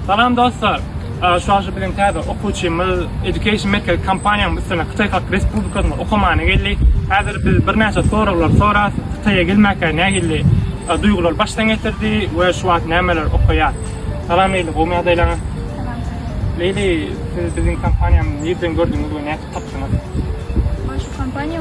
Salam dostlar! Şuaşy bilen täze okuwçymyz Education Merkezi kompaniýamyň üstüne Hytaý Halk Respublikasyna okamana geldi. Häzir biz birnäçe soraglar soras, Hytaýa gelmäkä nähili duýgular başdan geçirdi we şu wagt nämeler okaýar. Salam Leýli, gowy ýagdaýlaňyz? Leýli, siz biziň kompaniýamyzy nirden gördüňiz we nädip tapdyňyz? Şu kompaniýa